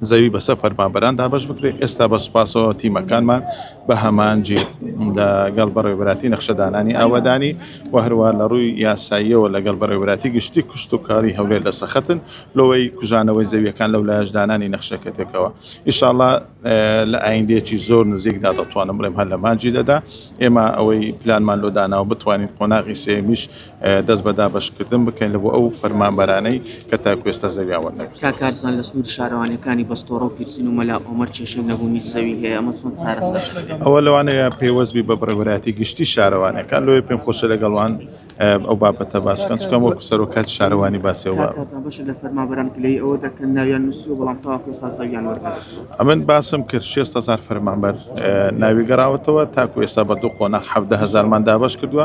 زەوی بەسەر فەرمانبەران دابەش بکرێت، ئێستا بە سوپاسەوە تیمەکانمان بە هەمانجی لە گەڵ بەڕێوەبەراتی نەخشەدانانی ئاوەدانی و هەروەها لە ڕووی یاساییەوە لە گەڵ بەڕێوەبەراتی گشتی کشتوکاڵی هەولێر لە سەخەتن لۆەی کوژانەوەی زەویەکان لەولایەش دانانی نەخشە کەتێکەوە ئیشاڵا لە ئایندەیەکی زۆر نزیکدا دەتوانم بڵێم هەر لە مانجی دەدا ئێمە ئەوەی پلانمان لۆ داناوە بتوانین قۆناغی سێیەمیش دەست بە دابەشکردن بکەین لە بۆ ئەو فەرمانبەرانەی کە تاکوێستا زەویان وەرنەگرت تا کارزان لە سنووری شارەوانیەکانی بەستۆڕە و پیرسین و مەلا ئۆمەر کێشەی نەبوونی زەوی هەیە ئەمە چۆن چارەسەر ئەوە لەوانەیە پێوەستبی بە بڕێوەراتی گشتی شارەوانەکان لۆی پێم خۆشە لەگەڵوان ئەو بابەتە باسکەن چکەم وەکو سەرۆکات شارەوانی باسەوە لە فەرمابران کلی ئەوە دەکەن ناویان نووسی بەڵام تاکو سازەویان وەرگەن ئەمن باسم کرد 600 هزار فەرمانبەر ناوی گەڕاوەتەوە تاکو ئێستا بە دوو قۆناخ 7 هزارمان دابش کردووە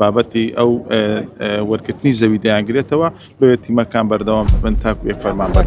بابەتی ئەو وەرکردنی زەوی دەیانگرێتەوە بۆیە تیمەکان بەردەوام بن تاکو یەک فەرمان بەر.